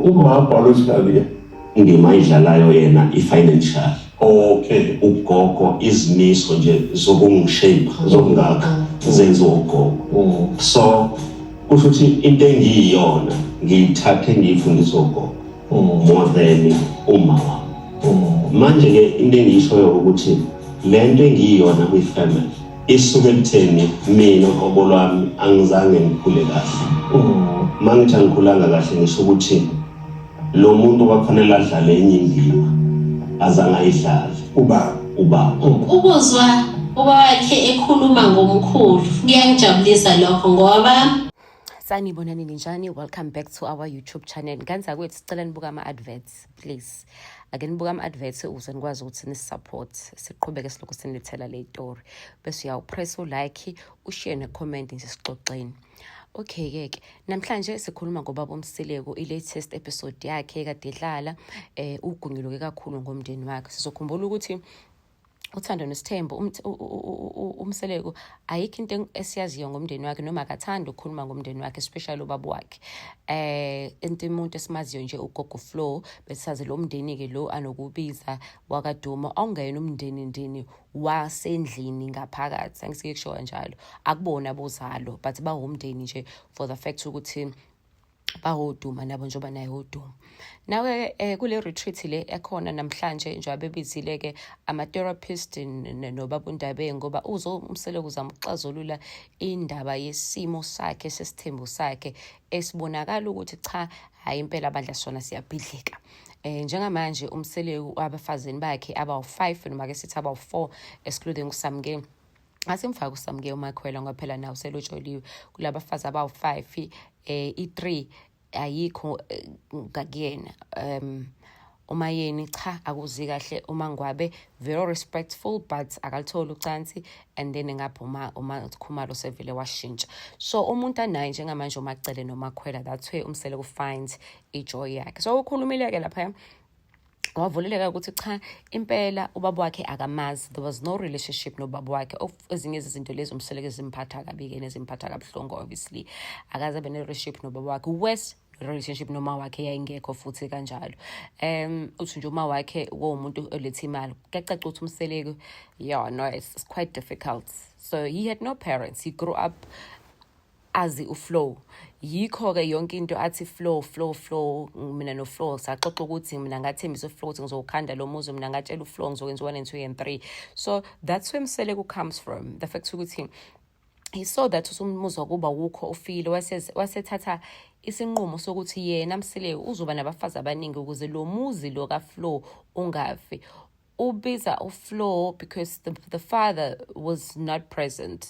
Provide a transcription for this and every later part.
Umama lositaliya indima ayidlalayo yena i-financial okay ugogo izimiso nje zokungishape zokungakha zenziwa ugogo mm. so kusho ukuthi into engiyiyona ngiyithathe ngiyifundisa ugogo mm. more than uma wami mm. manje-ke into engiyishoyo ukuthi le nto engiyiyona kwi-family isuke ekutheni mina qobo lwami angizange ngikhule kahle uma ngithi angikhulanga kahle ngisho ukuthi lo muntu kwakufanele adlale enye indima azange ayidlale ubaba ubaba ukuzwa uba wakhe ekhuluma ngomkhulu kuyangijabulisa lokho ngoba sanibonani ninjani welcome back to our youtube channel nganzakwethu sicela nibuka ama-adverts please ake nibuke ama-adverts ukuze nikwazi ukuthi nisupport siqhubeke silokhu sinithela le yitori bese uyawupress ulike ushiye necomment nje sixoxeni Okay-ke ke namhlanje sikhuluma ngobaba uMsileko i-latest episode yakhe kade idlala eh ugungiluke kakhulu ngomndeni wakhe sizokhumbula ukuthi uthando nesithembu um, umseleku ayikho into esiyaziyo ngomndeni wakhe noma akathandi ukukhuluma ngomndeni wakhe especially ubaba wakhe eh into umuntu esimaziyo nje ugogo flow besazi lo mndeni ke lo anokubiza wakaduma awungena umndeni ndini wasendlini ngaphakathi angisike kusho kanjalo akubona bozalo but bawumndeni nje for the fact ukuthi bawoduma nabo njengoba naye woduma nawe eh, kule retreat le ekhona namhlanje njengoba bebizile-ke ama-therapist nobabundabeni ngoba uzomseleku uzamuxazulula indaba yesimo sakhe sesithembu sakhe esibonakala ukuthi cha hhayi impela bandla sona siyabhidlika eh njengamanje umseleku abafazini bakhe abawu-5 noma ke sithi abawu-4 excluding usamkeni asimfaki usamke umakhwela ngoba phela nawo selotsholiwe kulabafazi abawu-five eh i-three ayikho eh, ngakuyena um uma yeni cha akuzi kahle uma ngwabe very respectful but akalitholi ucansi and then ngaphuma uma khumalo sevele washintsha so umuntu anaye njengamanje umacele nomakhwela that's where umsele ku find ijoy yakhe so ukhulumile ke lapha wavuleleka ukuthi cha impela ubaba wakhe akamazi there was no relationship nobaba wakhe ezinye zezinto lezi umseleke zimphatha kabi-ke nezimphatha kabuhlungu obviously akaze abe ne-relationship nobaba wakhe worse relationship noma wakhe yayingekho futhi kanjalo um uthi nje uma wakhe wowumuntu oletha imali kuyacaca ukuthi umseleki yeah no it's, it's quite difficult so he had no parents he grew up azi uflow yikho-ke yonke into athi flow flow flow mina noflow saxoxa ukuthi mina ngathembisa uflow ukuthi ngizowukhanda lo muzi mina ngatshela uflow ngizokwenza one and two and three so that's where mseleku comes from the fact ukuthi he saw that usumuzwa kuba wukho ufile wasethatha isinqumo sokuthi yena msileyo uzoba nabafazi abaningi ukuze lo muzi lo kaflow ungafi ubiza uflow because the, the father was not present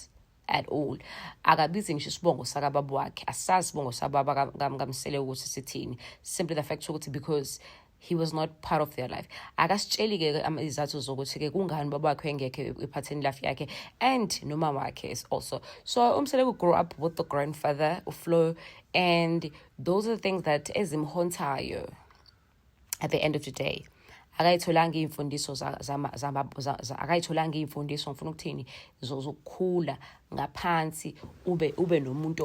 at all akabizi ngisho isibongo sakababa wakhe asazi isibongo sababa kamsele ukuthi sithini simply the fact ukuthi because he was not part of their life akasitsheli-ke izathu zokuthi-ke kungani baba wakhe engekho ephatheni life yakhe and nomama wakhe is also so umseleku grew up with the grandfather uflo and those are the things that ezimhontayo at the end of the day akayitholanga iy'mfundiso akayitholanga iy'mfundiso ngifuna ukuthini zokukhula ngaphansi ube ube nomuntu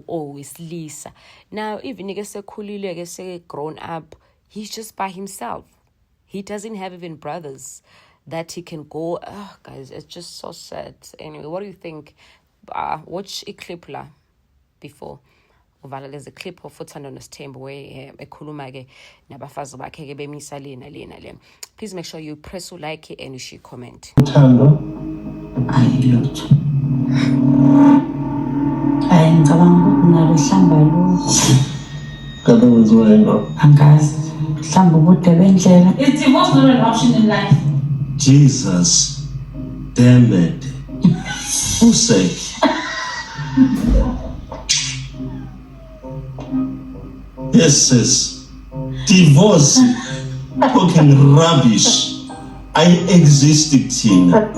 owesilisa now even-ke sekhulile-ke seke-grown up he's just by himself he doesn't have even brothers that he can go oh, guys it's just so sad anyway what do you think uh, watch iclip la before uvala lezi clip of uthando nosithembu we eh, ekhuluma ke nabafazi bakhe ke bemisa lena lena le please make sure you press u like and you share comment uthando ayilutho ayi ngicabanga ukuthi nalo hlamba lutho kade wenziwa yena angazi hlamba ubude bendlela it's the most option in life jesus damn it Who said? Yes, sis. Divorce. Fucking rubbish. I exist thina.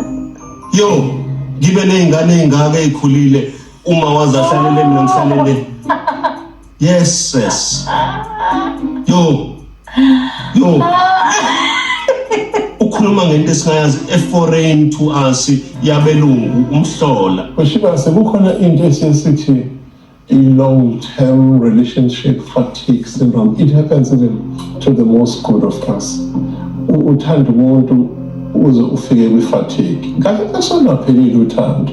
Yo, ngibe nezingane ezingaka ezikhulile uma wazahlelele mina ngihlalele. Yes, yes. Yo. Yo. Ukhuluma ngento esingayazi eforeign to us yabelungu umhlola. Kushiba sekukhona into esisithi long term relationship fatigue syndrome. It happens even to the most good of us. Uthanda umuntu uze ufike kwi fatigue. Kanti asolaphelile uthando.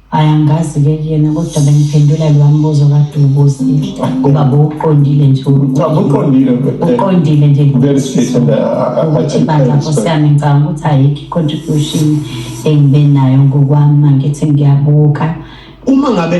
Ay angazi ke kuyena kodwa bengiphendula lo mbuzo kade ubuzile. Ngoba bowuqondile nje. Cha uqondile but uqondile nje. Very straight and abathi bandla kusami ngicabanga ukuthi ayikho contribution engibe nayo ngokwami mangithi ngiyabuka. Uma ngabe